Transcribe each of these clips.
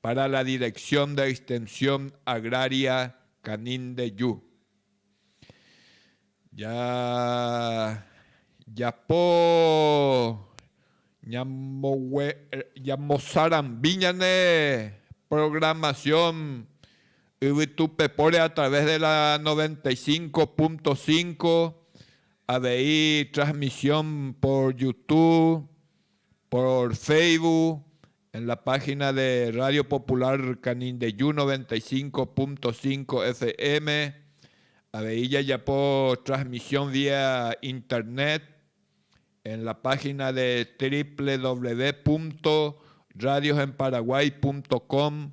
Para la Dirección de Extensión Agraria Canindeyú, jajapo ñamosarambi ñane programación yvytupepóre a través de la 95.5, avei transmisión por Youtube, por Facebook, En la página de Radio Popular Canindeyu 95.5 FM avei jajapo transmisión vía internet en la página de www.radiosenparaguay.com/.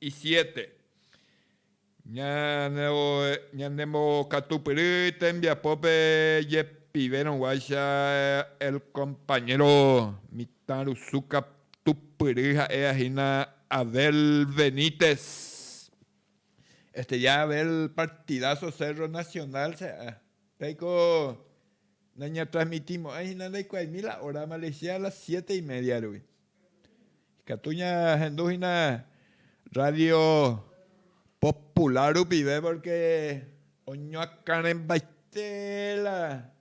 Isiete. Ñanembohokatupyry tembiapópe jepivérõguáicha el compañero mitãrusu katupyry ha'éva hína Abel Benítez. Estrella Abel partidazo Cerro Nacional che a'a. Péiko nañatransmitimo'ãi hína ndaikuaáimi la hora Malaysia a las siete y media rupi. Ikatu ñahendu hína radio popular rupive porque oñoakãrembaite la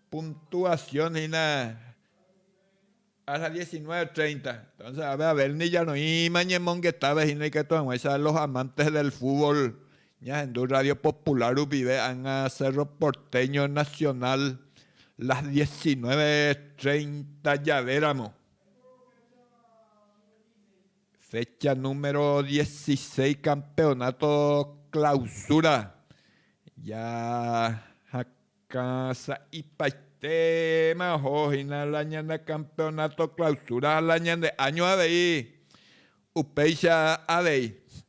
puntuación hína a las diecinueve treinta. Entonces, a ver, a ver, ni ñaroĩma ñemongetáva hína ikatu hag̃uáicha los amantes del fútbol Ñahendu Radio Popular rupive ág̃a Cerro Porteño Nacional las diecinueve treinta javéramo. Fecha número dieciséis campeonato clausura jahakã sa'ipaitéma oho hína la ñane campeonato clausura ha la ñande áño avei, upéicha avei.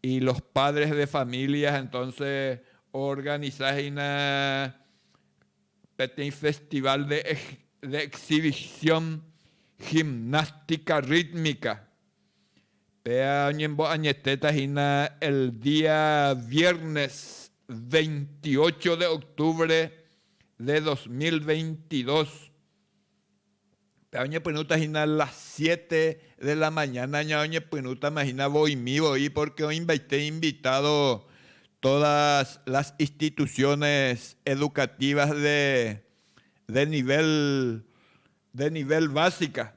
Y los padres de familias entonces organiza hína peteĩ festival de exhibición gimnástica rítmica. Péa oñembo'añetéta hína el día viernes 28 de octubre de 2022 Oñepyrũta hína las siete de la mañana ña oñepyrũtama hína voimi voi porque oĩmbaite invitado todas las instituciones educativas de nivel, de nivel básica.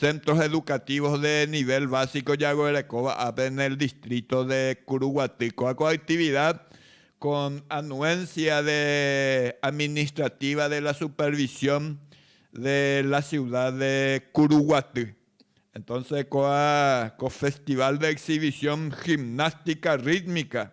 Centros Educativos de Nivel Básico jaguerekóva ápe en el distrito de Curuguaty. Ko'ã ko actividad con anuencia de administrativa de la supervisión de la ciudad de Curuguaty. Entonces ko'ã ko festival de exhibición gimnástica rítmica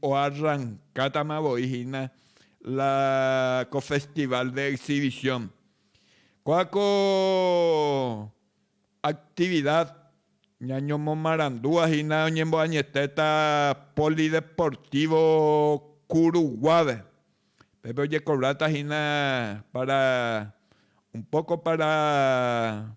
Oarrankátama voi hína la ko Festival de Exhibición. Kóa ko actividad ñañomomarandúva hína oñemboañetéta Polideportivo Curuguápe. Pépe ojekobráta hína para un poco para.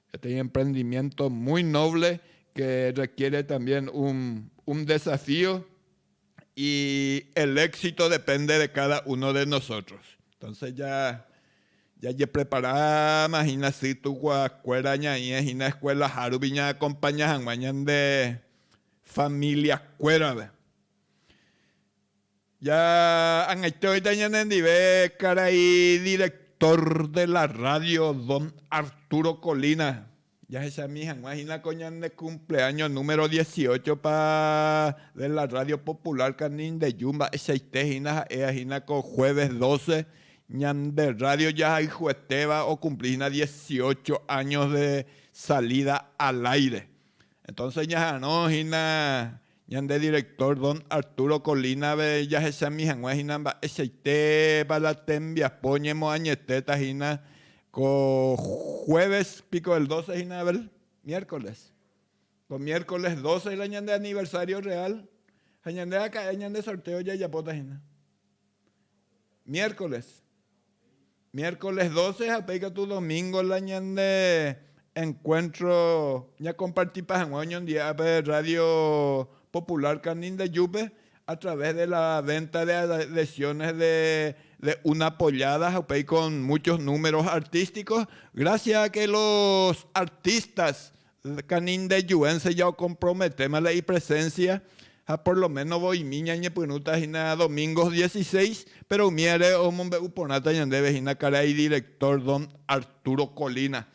Peteĩ emprendimiento muy noble que requiere también un un desafío y el éxito depende de cada uno de nosotros. Entonces ya jajepreparáma hína sy tukuakuéra ñaĩe hína escuelaha rupi ñaacompaña hag̃ua ñande familiakuérape. Ja ag̃aiteóita ñane ndive karai director de la radio don Arturo Colina, jahechami hag̃ua hína ko ñane cumpleaño número dieciocho pa de la radio popular Canindeyú mba'eichaite hína ha'éva hína ko jueves doce ñande radio jahayhuetéva okumpli hína dieciocho años de salida al aire entonce ñaharõ hína Ñande director Don Arturo Colina-pe jahechami hag̃ua hína mba'eichaitépa la tembiapo ñemoañetéta hína ko jueves piko el doce hína, Abel? Miércoles. Ko miércoles doce la ñande aniversario real, ha ñande aka'e ñande sorteo jajapóta hína. Miércoles. Miércoles doce ha upéi katu domingo la ñande encuentro ñakompartipa hag̃ua oñondive'a pe Radio Popular Canindeyúpe a través de la venta de adhesiones de una pollada ha upéi con muchos números artísticos, gracias a que los artistas Canindejuense jaokomprometéma la ipresénsia ha por lo méno voimi ñañepyrũta hína domingos dieciséis, péro umíre omombe'u porãta ñandéve hína karai idirektór don Arturo Colina.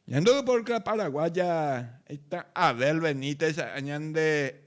Ñande ypórkla paraguaya, he'íta Abel Benítez, añande.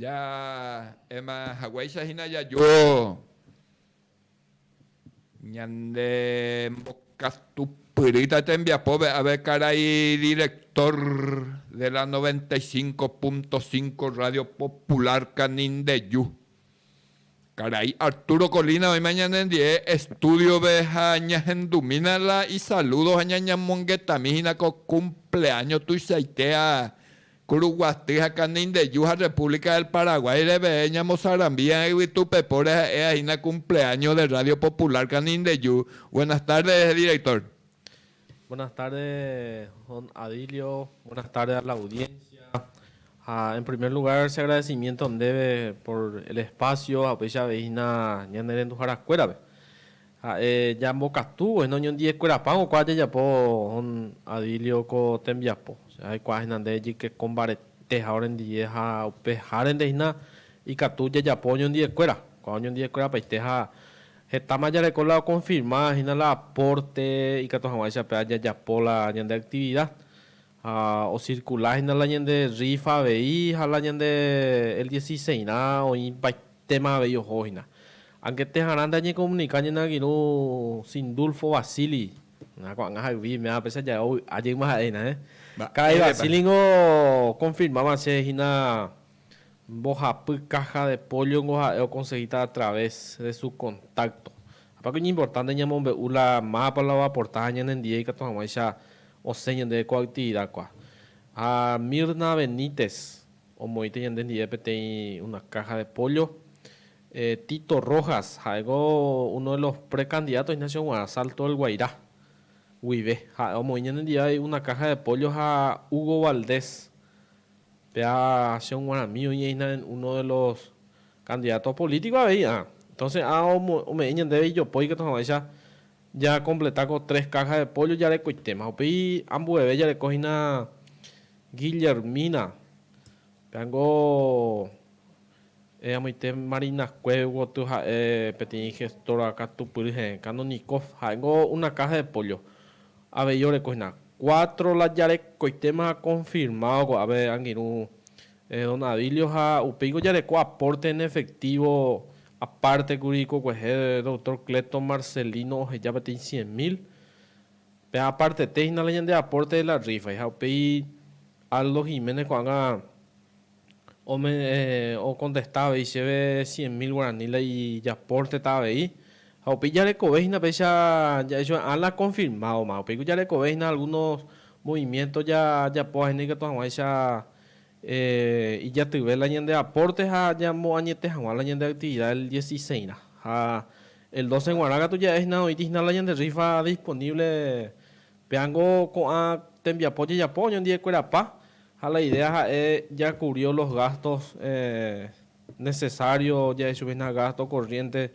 Ja'éma haguéicha hína jaju ñande mbokatupyrýta tembiapópe avéi karai direktór de la 95.5 Rádio Popular Canindeju. Karai Arturo Colina oĩma ñanendie estúdiope ha ñahendumína la isalúdo ha ñañamongetami hína ko kumpleáño tuichaite ha Kuruguaty ha Kanindeju ha República del Paraguái reve ñamosarambíva yvytupepóre ha'éva hína kumpleáño de Radio Popular Kanindeju. Buenas tardes, director. Buenas tardes don Adilio, buenas tardes a la audiencia. Ha en primer lugar se agradecimiento ndéve por el espacio ha upéicha avei hína ñanerenduhára kuérape. Ha'e ñambokatu voi noñondiekuerapa hokua jajapo don Adilio ko tembiapo. Che aikuaa hína nde ejyke ko mbaretéha orendive ha upe járente hína ikatu jajapo oñondiekuéra. Kua oñondiekuerapaite ha Hetáma jareko la okonfirma hína la apórte ikatu hag̃uáicha pe ajajapo la ñande aktivida. Ha osirkula hína la ñande rrífa avei ha la ñande el diesiseisrã oĩvaitéma avei oho hína. Angeteha'arã nde añekomunika ñane angirũ Sindulfo Vasili, na ko'ag̃a hayvi iméva péicha jave ovy'a jeýma ha'e hína, heẽ. Karai Vasili ningo okonfirmáva che hína. Mbohapy caja de pollo nko ha'e okonsehíta a través de su contacto. Apáko iñimportánte ñamombe'u la mápa la oaporta ha ñanendie ikatu hag̃uáicha osẽ ñandéve ko aktividakua. Ha Mirna Benítez omoĩta ñande ndive peteĩ una caja de pollo. Tito Rojas ha'éko uno de los precandidatos hína che oguarã Salto del Guairá guive. Ha'e omoĩ ñanendive avei una caja de pollo ha Hugo Valdez Pea che oguaramí oĩhína en uno de los candidatos políticos avei a. Entonces a ome'ẽ ñandéve ijopói katu hag̃uáicha ja completa ko tres cajas de pollo jarekoitéma. Upéi ambueve jareko hína Guillermina, pea niko. Eamoite Marinacue gotyo ha'e peteĩ gestora katupyry heẽ, Canonikov, ha'éngo una caja de pollo. Avei oreko hína. Cuatro la jarekoitéma confirmado ko'ápe angirũ don Adilio ha upéingo jareko aporte en efectivo aparte kuri kokuehe doctor Cleto Marcelino oheja peteĩ cien mil. Pe apartete hína la ñande aporte de la rifa. Ha upéi Aldo Jiménez ko'ág̃a Okontesta avei chéve cien mil guarani la ijapórteta avei. Ha upéi jarekove hína péicha ja'ejoe'ã la konfirmádoma. Upéiko jarekove hína algúno movimiénto jajapo hag̃ua ikatu hag̃uáicha ijatyve la ñande apórte ha ñamoañete hag̃ua la ñande aktividáda el diesisésrã. Ha el dóse g̃uarã katu ja'e hína oĩti hína la ñande rrífa disponívle. Péango ko'ã tembiapo jajapo oñondivekurapa. Ha la idea ha'e jakubrió los gastos necesarios, ja'e chupehina gasto corriente,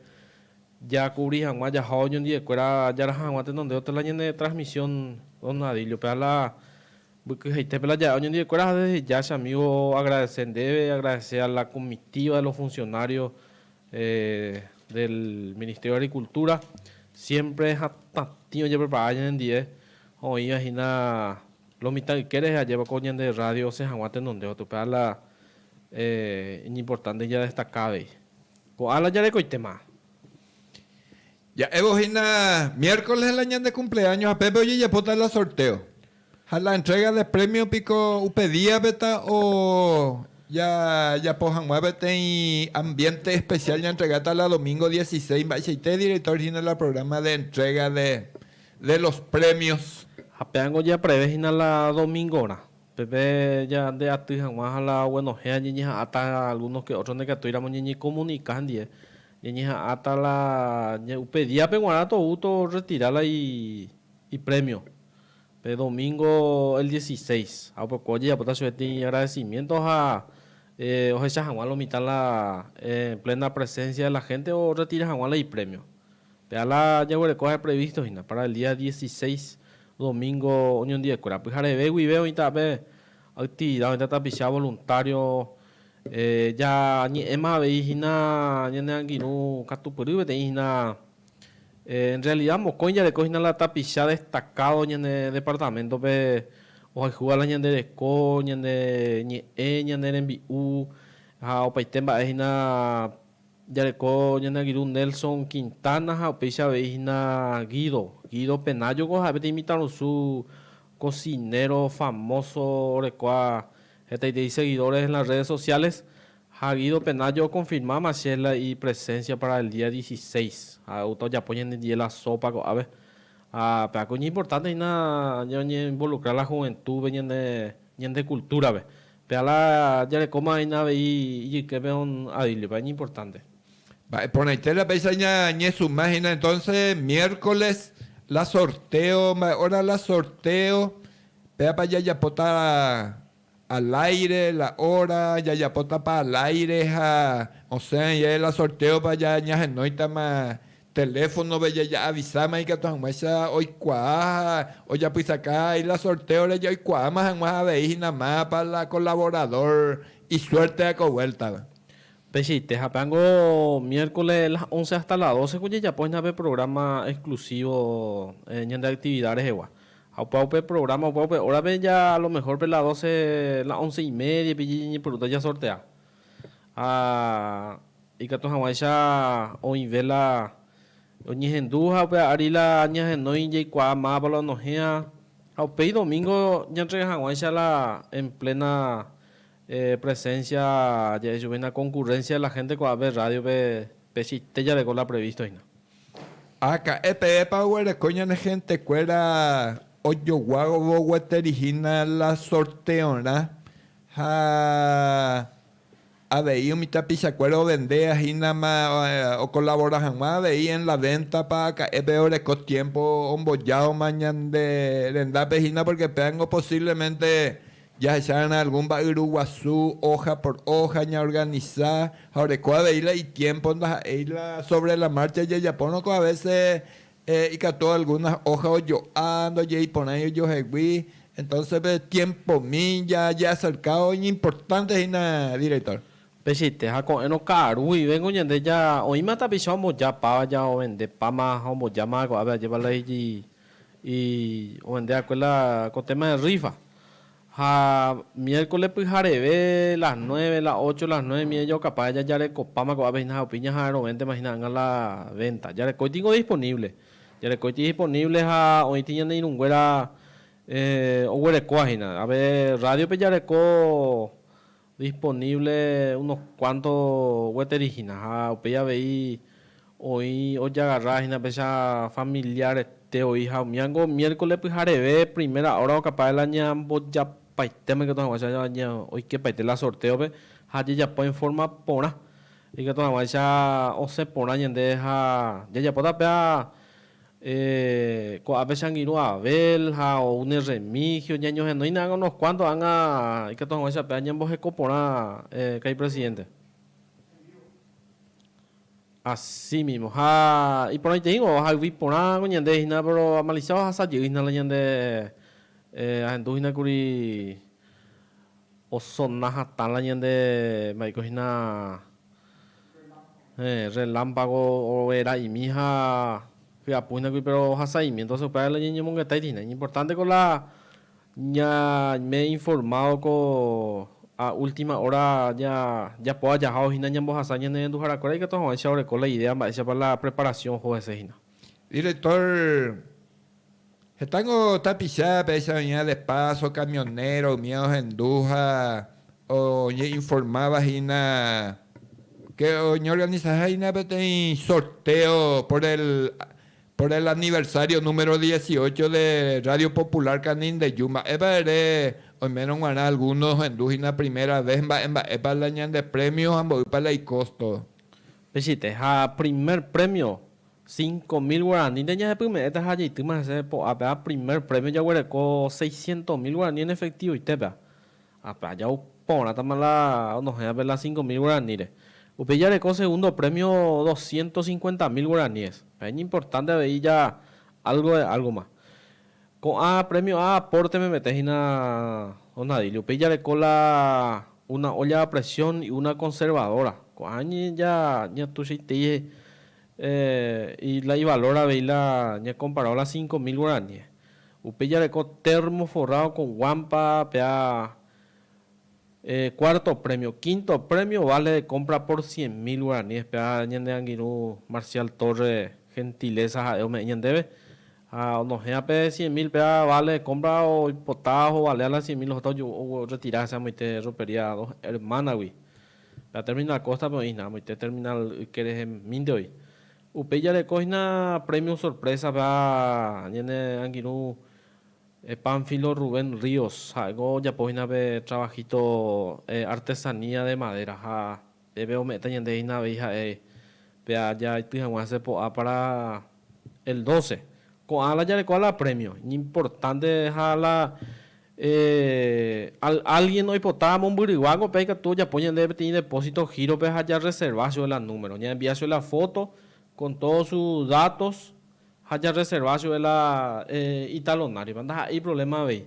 jakubri hag̃ua jaha oñondiekuéra jaraha hag̃ua tenonde otra la ñane transmisión tornadillo-pe. Ha la mbykyhaitépe la ja'e oñondiekuéra ha desde ya che amigo agradece ndéve, agradece a la comitiva de los funcionarios del Ministerio de Agricultura, siempre hatãtĩ ojeprepara ñanendie, oĩva hína Lo mitã yke rehe ajépa ko ñande rrádio osẽ hag̃ua tenondévape. Upe ála iñimportánte jadestaka avei. Ko ála jarekoitéma. Ja'évo hína miérkoles la ñande kumpleáño ha pépe ojejapóta la sortéo. Ha la entréga de prémio piko upe díape ta ojajapo hag̃ua peteĩ ambiénte espesiál ñaentregáta la domingo diesiséis mba'eichaite direktór hína la prográma de entréga de de los premios. Ha pe ángo japreve hína la domingorã, pepe jande aty hag̃ua ha la oguenohẽ ha ñeñeha'ãta algunos que otros ndekatúiramo ñeñekomunika hendie, ñeñeha'ãta la ña upe día-pe g̃uarã tou to retira la i ipremio, pe domingo el dieciséis. Ha upe opa ojejapóta chupe tĩ agradecimiento ha ohecha hag̃ua lo mitã la en plena presencia de la gente oretira hag̃ua la ipremio. Pe ala jaguereko ha'e previsto hína para el día dieciséis domingo oñondiekuéra. Pyhareve guive oĩta pe actividad, oĩta tapicha voluntario. Jañe'ẽma avei hína ñane angirũ katupyry peteĩ hína. En realidad mokõi jareko hína la tapicha destacado ñane departamento-pe ohayhúva la ñande reko, ñane ñe'ẽ, ñane rembi'u ha opaite mba'e hína Jareko ñane angirũ Nelson Quintana ha upéicha avei hína Guido. Guido Penayo ko ha'e peteĩ mitãrusu cocinero famoso orekóva hetaiterei seguidores en las redes sociales. Ha Guido Penayo oconfirma Machella ipresencia para el día dieciséis. Ha oúta ojapo ñanendie la sopa ko'ápe. Ha pe'áke oñeimportante hína ñañemoinvolucra la juventúpe ñane cultúrape. Pe ala jarekóma hína avei ijyképe on a Bíbliapa, iñimportánte. Mba'e porãite la péicha ñañesuma hína entónse, miérkoles la sortéo, mba'e óra la sortéo, péapa jajapóta aláire la óra, jajapótapa aláire ha osẽva jave la sortéopa ñahenóitama Teléfonope jaja'avisáma ikatu hag̃uáicha oikuaa ha ojapysaka áila sortéore jaikuaáma hag̃ua avei hína mápa la kolavorádor isuérte ha ko vuéltava. Pejeite ha peango miérkole las ónce áhsta las dóse ku jajapo hína pe prográma exklusívo ñande aktivida rehegua. Ha upéva upe prográma, upéva upe órape ja alomehór pe las dóse, las ónce i médiape jañañeporuta jasortea. Ha. Ikatu hag̃uáicha oĩ véla oñehendu ha upéva ári la ñahenói jaikuaa máva la onohẽva ha upéi domingo ñantrega hag̃uáicha la en plena presencia ja'e chupe hína concurrencia de la gente ko'ápe radio-pe pecheite jareko la previsto hína. Ha ka'ẽ pevépa oguereko ñane gentekuéra ojoguávo gueteri hína la sorteorã ha Avei umi tapichakuéra ovendea hínama okolabora hag̃ua avei en la véntapa aka'épe oreko tiémpo ombojáoma ñande rendápe hína pórke péango posívlemente jahecha va'erã algún mba'yru guasu óha por óha ñaorganisa ha oreko avei la itiémpo ndaha'éi la sóvre la márcha jajapórõ ko avése Eh, ikatu algunas hoja ojo'a, ndojeiporãi ojohegui, entonces pe tiempomi ja jeacercávo iñimportante hína director. Pechite ha ko'ẽrõ ka'aru guivéngo ñande ja oĩma tapicha omboja páva ja ovende páma ha ombojáma ko'ápe ajépa la iji i ovende akue la ko téma de rifa. Ha miércoles pyhareve, las nueve, las ocho, las nueve miẽ jaukapája jajarekopáma ko'ápe hína ha upéi ñaha'arõvéntema hína ag̃a la venta. Jarekóiti niko disponible. Jarekóiti disponible ha oĩti ñane irũnguéra oguerekóva hína. Ave rádiope jareko disponible unos cuanto gueteri hína ha upéi avei oĩ ojagarra hína péicha familiarete oĩha umi ánguo miércoles pyhareve primera hora okapa de la ñaña mbojapaite moikatu hag̃ua cha ña oikepaite la sorteo-pe ha jajapo en forma porã ikatu hag̃uáicha osẽ porã ñande ha jajapóta pe ha Eh, ko'ápe che angirũ Abel ha ou ne Remigio, ñañohenoína ág̃a unos cuánto ág̃a ikatu hag̃uáichape añemboheko porã, eh, ka'ay presidente. Así mismo. Ha iporãiteígui ohayvi porã ko ñande hína, pero Malicia ohasa jey hína la ñande, eh, ahendu hína kuri osona hatã la ñande mba'e iko hína Relámpago oguera'imi ha hyapuhinagui péro ohasaimi, entonce upévare la ñañemongetái hína. Iñimportánte ko la ñaime informádo ko a última hora japóva jahávo hína ñambohasa ñanerenduharakuéra ikatu hag̃uáicha oreko la idea mba'éichapa la preparasión oho hese hína. Director, Heta niko tapicha péicha oĩva de paso, camionero umi ohendu ha oñe'informáva hína ke oñeorganizaha hína peteĩ sorteo por el, por el aniversario número dieciocho de Radio Popular Canindeyú. Mba'épa ere oimérõ g̃uarã alguno ohendu hína primera vez, mba'e mba'épa la ñande premio ha mboýpa la icosto. Michĩte, ha primer premio Cinco mil guaranínte ñahepyme'ẽta ha jeitýma hese po'ápeha primer premio jaguereko seiscientos mil guaraní en efectivo itépea. Ápea jau porãtama la onohẽvape la cinco mil guaraníre. Upéi jareko segundo premio doscientos cincuenta mil guaraníes. Pe ñimportánte avei ja algo de algo ma. Ko'ã premio ha aporte memete hína Don Adilio. Upéi jareko la una olla a presión y una conservadora. Ko'ã ja ñatuichaitei y la ivalor avei la ñakomparao la cinco mil guaraníes. Upéi jareko termo forrado con guampa pea cuarto premio. Quinto premio vale de compra por cien mil guaraníes pea ñande angirũ Marcial Torres gentileza ha'e ome'ẽ ñandéve. Ha onohẽa pe cien mil péva vale compra oipota ohovalea la cien mil ohóta oretira hese amoite ropería dos hermana-gui. Pe aterminal Costa-pe oĩhína, amoite terminal yke rehemínte oĩ. Upéi jarekóhina premio sorpresa-pe ha ñane angirũ Pánfilo Rubén Ríos, ha'éko ojapóhina pe trabajito artesanía de madera ha, Peve ome'ẽta ñande hína avei ha'e pe aja aity hag̃ua hese po'a pára el doce. Ko'ã la jarekóva la prémio. Iñimportánte ha la álgien oipota amombyryváko, pe aikatu ojapo ñandéve peteĩ depósito gírope ha jarreserva chupe la número. Ñaenvia chupe la fóto kon tódos su dátos ha jarreserva chupe la italonáripa. Ndaha'éi provléma avei.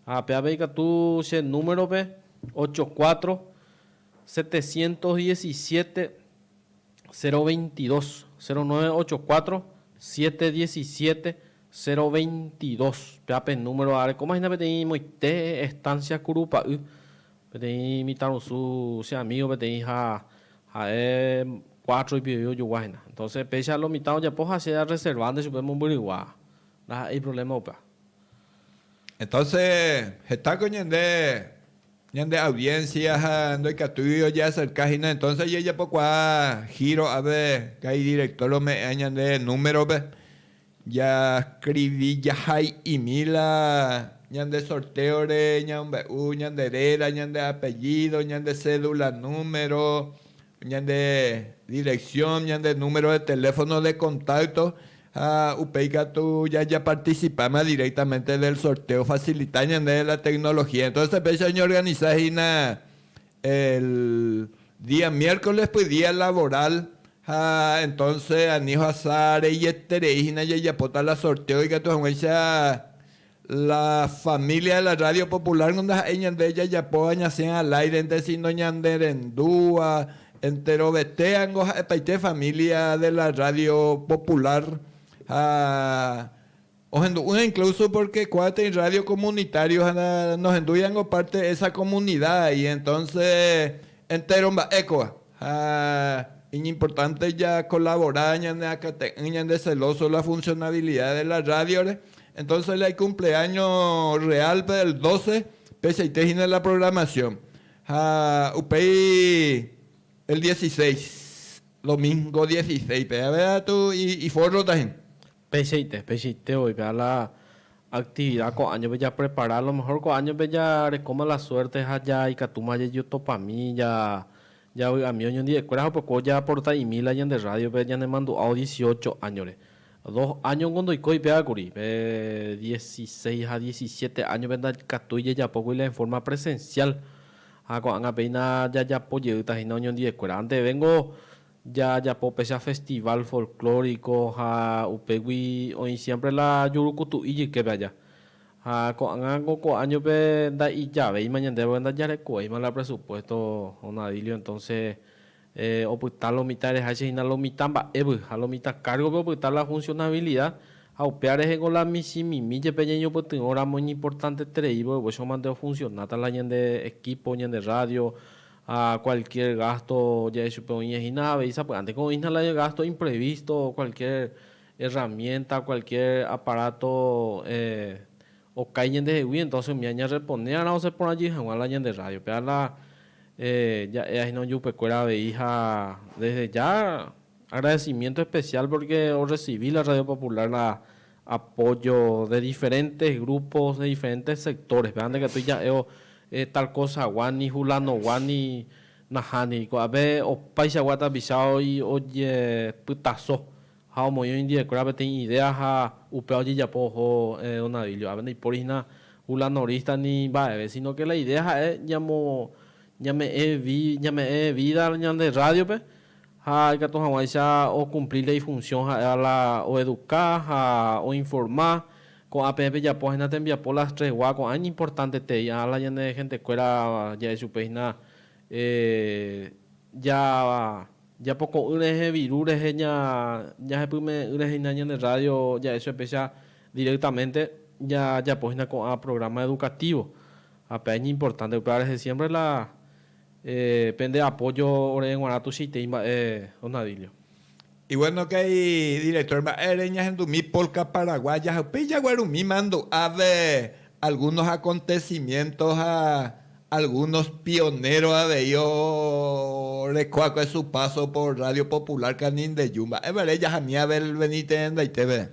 Ha pe avei katu che númerope, ocho cuatro, Setecientos diecisiete, cero veintidos, cero nueve ocho cuatro, siete diecisiete, cero veintidos, pea pe número ára. Ko'ma hína peteĩ moite estancia Kurupa'y, peteĩ mitãrusu che amigo peteĩ ha ha'e cuatro ipivégui ojogua hína. Entonces péicha lo mitã ojapo ha che a reservánte chupe mombyrygua, ndaha'éi problema upéva. Entonces hetáko ñande. Ñande audiencia ha ndoikatúi ojeacerca hína, entonces ojejapokuaa giro ápe kai director ome'ẽa ñande número-pe, jascrivi jahai'imi la ñande sorteo-re ñaombe'u ñande réra, ñande apellido, ñande cédula número, Ñande dirección, ñande número de teléfono de contacto ha upéi katu jajaparticipáma directamente del sorteo facilita ñandéve la tecnología. Entonces péicha oñeorganisa hína el día miércolespy día laboral ha entonce ani ohasa reieterei hína jajapóta la sorteo ikatu hag̃uáicha La familia de la radio popular ko ndaha'éi ñande jajapóva ñasẽ al aire-nte, sino ñanderendúva enterovete ko ha'epaite familia de la radio popular. Ha ohendu'ỹva incluso porque kuaáteĩ radio comunitario ha nohendúiva ko parte de esa comunidad ahí, entonces entero mba'e kóva. Ha iñimportánte jakolavora ñaneakate'ỹ ñande selóso la funsionabilida de la rádiore. Entónse la ikumpleáño rreálpe del dóse peichaite hína la programasion. Ha upéi el diesiséis, domíngo diesiséipe, avei atu ifórrota hína. Peichaite, peichaite oĩta la actividad ko año-pe japrepara, a lo mejor ko año-pe jarekóma la suerte ha ja ikatúma jajotopami, ja javy'ami oñondive'ekuéra ha upekuévo jaaporta imi la ñande radio-pe ñanemandu'ávo dieciocho año-re. Dos año-nko ndoikói péva kuri, pe dieciseis ha diecisiete año-pe ndakatúi jajapókuri la en forma presencial ha ko'ág̃a péina jajapo jeýta hína oñondive'ekuéra. Anteve-nko Jajapo péicha festival folclórico ha upégui oĩ siempre la jurukutu'i jyképe aja. Ha ko'ág̃a ko ko año-pe nda'ijavéima ñandéve porque ndajarekovéima la presupuesto Don Adilio entonces opyta lo mitã ereháicha hína lo mitã mba'évy ha lo mitã cargo-pe opyta la funcionabilidad ha upéva rehe ko la michĩmimi jepe ñañopytyvõ ramo iñimportanteterei vove che omante ofuncionáta la ñande equipo, ñande radio, ha cualquier gasto jave chupe oĩva hína avei sapy'ánteko oĩhína la gasto imprevisto cualquier herramienta, cualquier aparato okái ñandehegui, entonces umi añarreponéarã osẽporãjey hag̃ua la ñande radio. Péva la ja'éva hína ojupekuéra avei ha desde ya agradecimiento especial porque orrecibi la Radio Popular la apójo de diferentes grupos, de diferentes sectores-pe, ha ndaikatúi ja'évo tal cosa hagua, ni hulanogua ni nahániri. Ko'ápe opaichagua tapicha ojepytaso ha omoĩ oĩndiekuéra peteĩ idea ha upéva ojejapo oho don Abilio. Ápe ndaipóri hína hulanorista ni mba'eve, sino que la idea ha'e ñamo, ñame'ẽ vi, ñame'ẽ vida ñande rrádio-pe, ha ikatu hag̃uáicha okumplir ifunsión ha'éva la oeduka ha oinforma. Ko'ã peẽ pejapo hína tembiapo las tres gua, ko'ã iñimportantetei, ha la ñane hentekuéra ja'e chupe hína ja japoko'ỹ rehe viru rehe ña jahepyme'ỹ rehe hína ñane rrádio ja'e chupe péicha directamente jajapo hína ko'ã programa educativo ha pe iñimportante upéva rehe siémpre la Pende apójo ore g̃uarã tuichaite imba'e, Donadillo. Y bueno que hay director mba'e re ñahendumi polka paraguaya ha upéi jaguarumi mandu'áve algunos acontecimientos ha algunos pioneros avei oreko akue su paso por Radio Popular Canindeyú mba'e vare jahami Abel Benítez rendaiteve.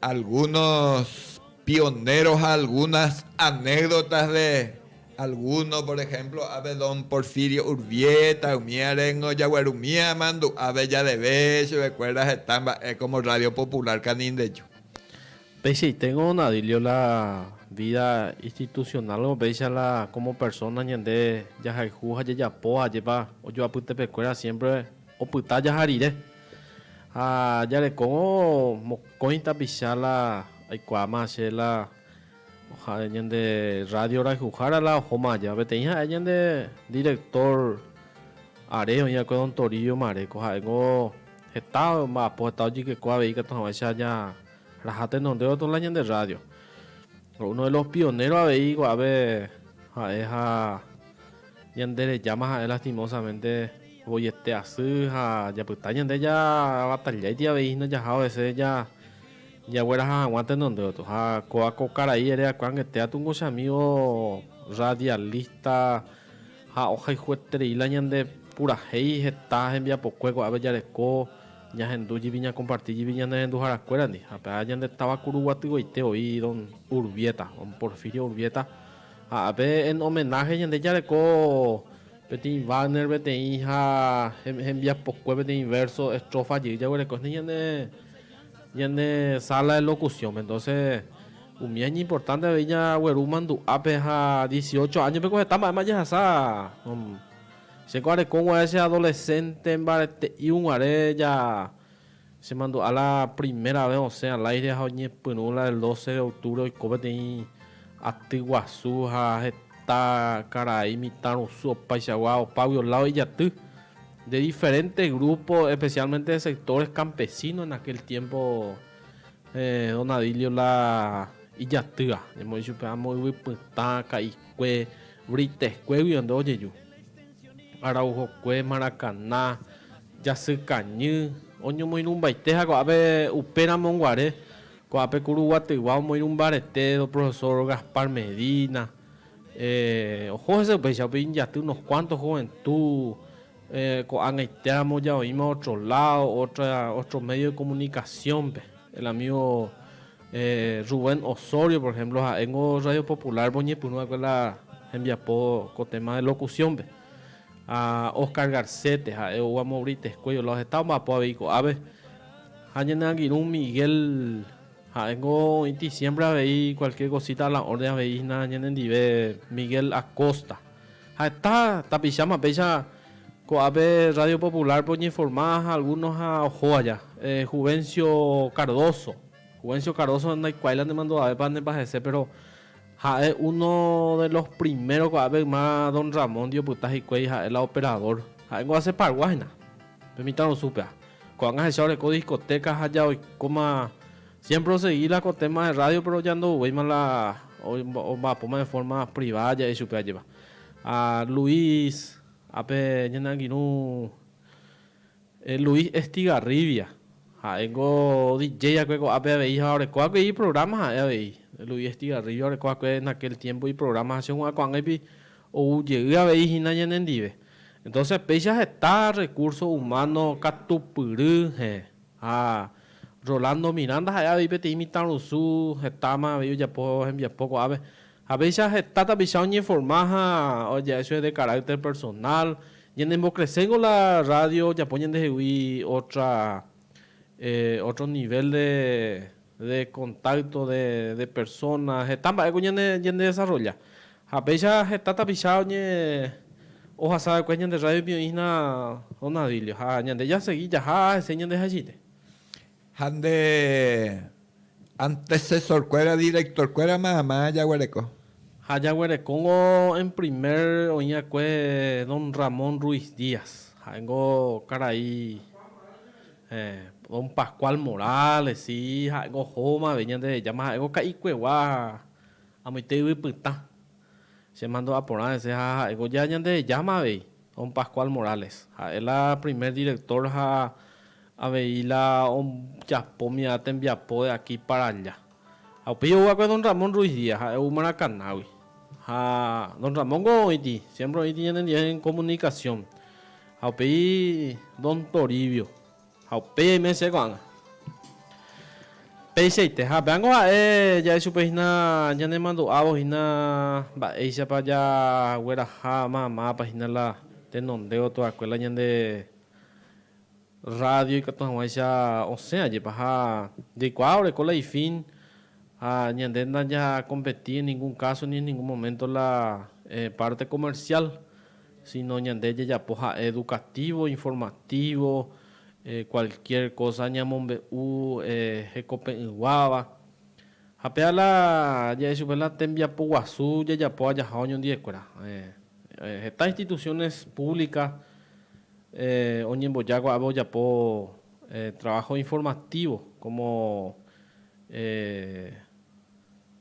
Algunos pioneros ha algunas anécdotas de alguno, por ejemplo, ave don Porfirio Urbieta, umi arengo jaguerumíva amandu'áve jadeve chupekuéra heta mba'e como Radio Popular Canindeju. Peichaiténgo Nadilio la vida institucional-gua péicha la como persona ñande jahayhu ha jajapo ajépa ojoapytepekuéra siempre Opyta jaha rire. Ha jarekóvo mokõi tapicha la aikuaáma che la ñande radio rayhuhára la ohóma aja. Peteĩ ha'e ñande director are oĩ va'ekue don Torillo Mareco. Ha'éngo heta omba'apo, heta ojykeko avei katu hag̃uáicha raja tenondévo katu la ñande radio. Uno de los pioneros avei ko'ápe ha'e ha Ñanderejáma ha'e lastimósamente voiete asy ha japyta ñande javatalláiti avei hína jaha ovese jagueraha hag̃ua tenonde gotyo. Ha kóva ko karai ere akuangete atu ko che amígo rradialista ha ohayhueterei la ñande purahéi heta hembiapokue ko'ápe jareko ñahendu jýpi ñakomparti jýpi ñanerenduharakuérandi. Ha pe'a ñande táva Kuruguatyvaite voi don Urbieta, don Porfirio Urbieta. Ha ápe en homenaje ñande jareko peteĩ banner peteĩ ha hembiapokue peteĩ verso, estrofa jey jaguereko hína ñane ñane sala de locución-pe. Entonces umía iñimportante avei jagueru mandu'ápe ha dieciocho año-pe ko heta mba'éma jahasa. Chéko arekog̃uarã che adolescente mbarete'íg̃uare ja Chemandu'a la primera vez osẽ al aire ha oñepyrũ la el doce de octubre oiko peteĩ aty guasu ha heta karai mitãrusu opaichagua opágui olávo ijaty, de diferente grupo especialmente de sectores campesinos en aquel tiempo don Adilio la ijatýva ñamoĩ chupe amo yvy pytã, ka'ikue, Briteskuégui ojeju, Araujokue, Maracaná, Jasykañy, oñomoirũmbaite ha ko'ápe upéramo guare, ko'ápe ku Ruguatyguá omoirũmbarete do profesor Gaspar Medina, oho hese upéicha upe injaty unos cuantos juventud, ko'ag̃aitéramo ja oĩma otro lado, otro medio de comunicación-pe, el amigo Rubén Osorio por ejemplo ha'éngo Radio Popular-pe oñepyrũ va'ekue la hembiapo ko téma de locución-pe. Ha Oscar Garcete ha'e ou amo Britesco iolao heta omba'apo avei ko'ápe. Ha ñane angirũ Miguel ha'éngo oĩti siémpre avei kualkier kosíta ala órden avei hína ñanendive Miguel Akosta. Ha heta tapicháma péicha ko'ápe rrádio populárpe oñeforma ha algúno ha oho aja. Juvencio Cardoso, Juvencio Cardoso ndaikuaái la nemandu'avépa nemba'ehese péro Ha'e uno de los primeros ko'ápe yma don Ramón-ndi opyta hikuái ha'e la operador. Ha'éngo hace pargua hína, pe mitãrusúpea. Ko'ág̃a ahecha oreko discoteca ha ja oikóma siempre osegi la ko téma de radio pero ja ndouvéima la omba'apóma de forma privada ja'e chupe ajépa. A Luis, a pe ñane angirũ Luis Estigarribia, ha'éngo DJ akue ko'ápe avei ha oreko akue iprograma ha'e avei. Luis Estigarribia oreko akue en aquel tiempo iprograma ha chehua'ã ko'ag̃aipi ou jey avei hína ñanendive. Entonces péicha heta recurso humano katupyry hẽ. Ha Rolando Miranda ha'e avei peteĩ mitãrusu hetáma avei ojapo hembiapo ko'ápe. Ha péicha heta tapicha oñeforma ha oja'e chupe de carácter personal, ñanembokreséngo la radio ojapo ñandehegui otra, otro nivel de, de contacto de, de persona, heta mba'éko ñane, ñandedesarrolla. Ha péicha heta tapicha oñe, ohasa va'ekue ñande rrádiope oĩhína Don Adilio, ha ñande jasegi jaha hese ñandehaichite. Ha nde antesesorkuéra, directorkuéra mayma jaguereko. Ha jaguerekóngo en primer oĩ'akue don Ramón Ruiz Díaz, ha'éngo karai don Pascual Morales, si ha'éngo ohómave Ñandejáma, ha'éngo ka'ikuegua amoite yvypytã. Che mandu'a porã hese ha ha'éko ja Ñandejáma avei, Don Pascual Morales. Ha'e la primer director ha avei la ojapómia tembiapo de aquí para allá. Ha upéi ou va'ekue Don Ramón Ruiz Díaz, ha'e ou Maracaná-gui. Ha Don Ramón-ko oĩti, siempre oĩti ñanendive en comunicación. Ha upéi Don Toribio, Ha upéi aime che ko'ág̃a. Peichaite. Ha péango ha'e ja'e chupe hína ñanemandu'ávo hína mba'éichapa jagueraha ma mápa hína la tenondévo tuakue la ñande rrádio ikatu hag̃uáicha osẽ ajépa. Ha jaikuaa oreko la ifín ha ñande ndajakompetí en ningún káso ni en ningún moménto la párte komersiál. Síno ñande jajapo ha'e edukatívo, informatívo, kualkiér kósa ñamombe'u hekope'ỹguáva. Ha péva la ja'e chupe la tembiapo guasu jajapo ajaha oñondiekuéra. Heta instituciones públicas oñemboja ko'ápe ojapo trabajo informativo, como.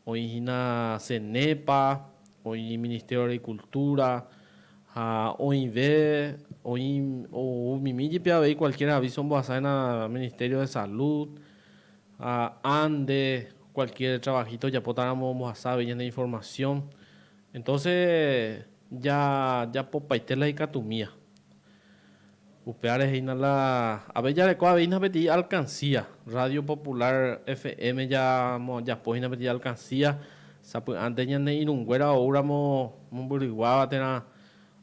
Oĩ hína CENEPA, oĩ Ministerio de Agricultura ha oĩve oĩ oumimi jepi avei cualquier aviso ombohasa hína Ministerio de Salud ha ande cualquier trabajito ojapótaramo ombohasa avei ñande información. Entonces ja japopaite la ikatumía. Upévare hína la ave jareko aveína peteĩ alkansía. Radio Popular FM japo hína peteĩ alkansía sapy'ánte ñane irũnguéra oúramo mombyryguáva térã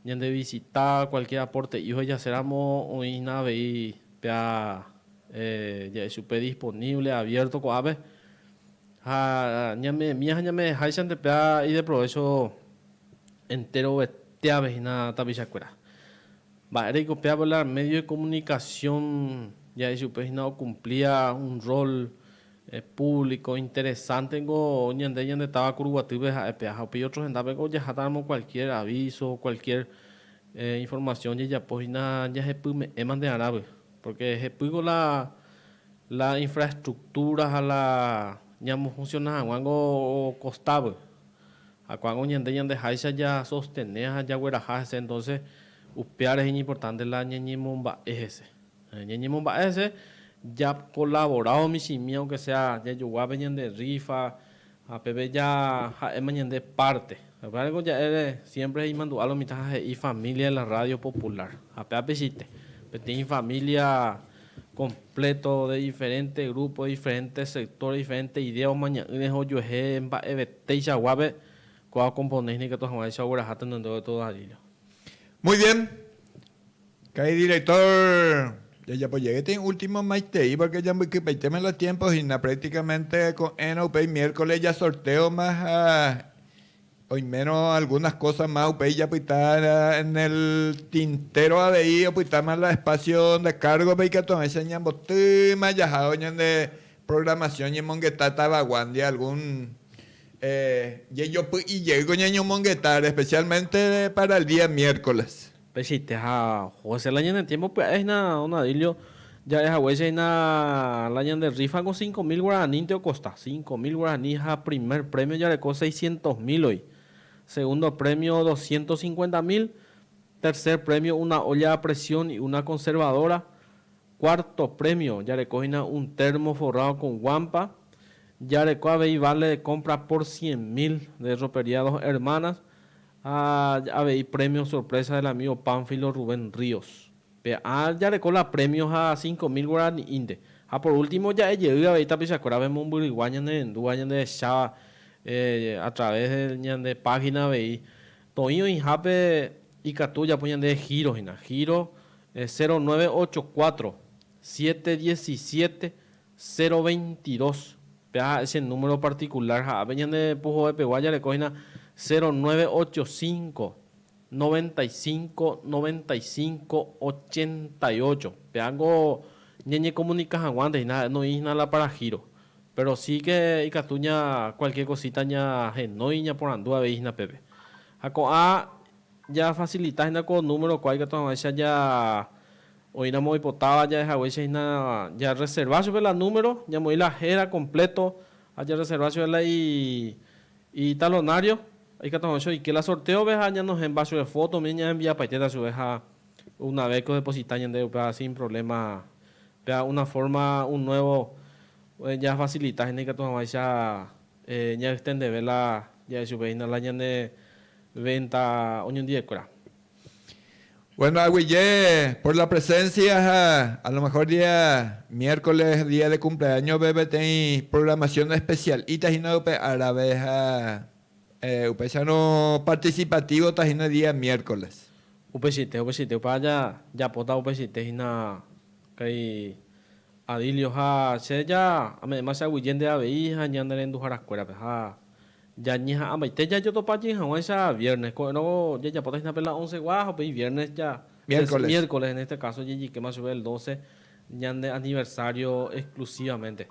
ñande visita, kualkier aporte'i ohejaséramo oĩ hína avei péa ja'e chupe disponible, aviérto ko'ápe. Ha ñamemia ha ñame'ẽháichante péa ideprovécho. enterovetéave hína tapichakuéra. Mba'éreiko pe apelar medio de comunicación ja'e chupe hína okumplía un rol público interesante-niko ñande ñande táva Kuruguatýpe ha'e pe aja. Upéi otro hendápeko ojahátaramo cualquier aviso, cualquier información ojejapo hína jahepyme'ẽma nde arápe, porque jepýko la la infraestructura ha la ñamofunciona hag̃ua niko kostápe. Ha ko'ág̃a oñande ñandeháicha jasostene ha jagueraha hese, entonce upéva rehe iñimportante la ñañemomba'e hese. Ñañemomba'e hese jakolavorado michĩmi aunke sea jajogua pe ñande rrífa ha peve jaha'éma ñande párte. Upévareko ja'ére siémpre imandu'a lo mitã ha he'i família de la Rádio Popular. Ha pe apechite, peteĩ família. completo de diferente grupo, de diferente sector, de diferente idea omaña'ỹre ha ojuehe mba'evetéicha guápe kóva okomponé hineikatu hag̃uáicha ogueraha tenondévo de todo Dalila. Muy bien. Ka'i director, jajapo jey tee último maitei porque jambykypaitéma la tiempo hína, prácticamente ko'ẽrõ upéi miércoles jasorteoma ha Oimérõ algunas cosas más upéi japyta en el tintero avei opytáma la espacio de cargo-pe ikatuavẽicha ñambotýma jahávo ñande programación ñemongeta tavaguándi algún jejopy'i jeýko ñañomongeta especialmente para el día miércoles. Pechiite ha José la ñane tiémpo pya'e hína don Adilio ja'e haguéicha hína la ñande rrífako cinco mil guaranínte okosta. Cinco mil guaraní ha primer prémio jareko seiscientos mílgui, segundo prémio doscientos cincuenta mil, tercer prémio una olla a presión y una conservadora, cuarto prémio jareko hína un termo forrado con guampa, jareko avei vale de compra por cien mil de Ropería Dos Hermanas, Ha avei premio sorpresa del amigo Pánfilo Rubén Ríos. Pe ã jareko la premio ha cinco mil guarani'ínte. Ha por último ja'e jey avei tapichakuérape mombyrygua ñanerendúva ñandehecháva a través de ñande página avei. Toĩ oĩhápe ikatu ojapo ñande giro hína, giro cero nueve ocho cuatro, siete diecisiete, Zero veinti dos, péva ha'e che número partikulár ha ápe ñande puhovepegua jareko hína zero nueve ocho cinco, noventa y cinco, noventa y cinco, ochenta y ocho. Péva niko ñañekomunika hag̃uánte hína ha'e noĩ hína la para giro. Péro si ke ikatu ña kualkier kosíta ñahenói ñaporandu avei hína pépe. Ha ko'ã jafasilita hína ko númerokua ikatu hag̃uáicha ja Oĩramo oipotáva ja'ehaguéichahina jarreserva chupe la número, ñamoĩ la héra kompléto ha jarreserva chupe la italonário, ikatu hag̃ua che oike la sortéove ha ñanohẽmba chupe fóto, umi ñaenviapaitéta chupe ha una ves ko deposita ñandéve upéva sin provléma, péva una fórma un nuevo jafasilitáhina hína ikatu hag̃uáicha jaextendeve la ja'e chupehína la ñane vénta oñondive'ekuéra. Bueno, aguije por la presencia ha a lo mejor día miércoles, día de cumpleaños pe peteĩ programación especial'ita hína upe árape ha upéicharõ participativota hína día miércoles. Upeichaite, upeichaite. Upéva jajapóta upeichaite hína karai Adilio ha che ja ame'ẽma che aguije nde avei ha ñanerenduharakuérape ha Jañeha'ãmbaite jajotopajey hag̃uáicha viernes. Ko'ẽrõ jajapóta hína pe la onsegua ha upéi viernes ja, miércoles en este caso, jejikéma chupe el doce ñande aniversario exclusivamente.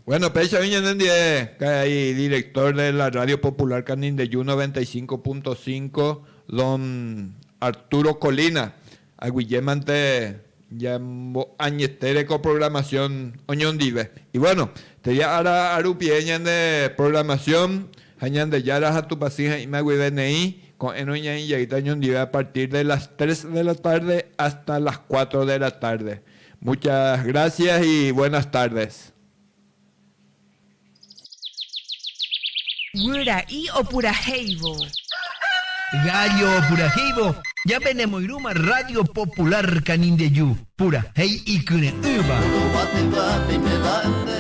Bueno, péichagui ñanendie karai director de la Radio Popular Canindeyú 95.5, don Arturo Colina, Aguyjémante ñambo'añetére ko programación oñondive. Y bueno, térã ára arupie ñande programación ha Ñandejára ha Tupãsy ha'ĩma guive neĩ, ko'ẽrõ ñaĩ jaýta oñondive a partir de las tres de la tarde hasta las cuatro de la tarde. Muchas gracias y buenas tardes. Guyra'í opurahéivo. Gállo opurahéivo Japenemoirũma Rádio Popular Canindeju, purahéi ikyre'ỹva.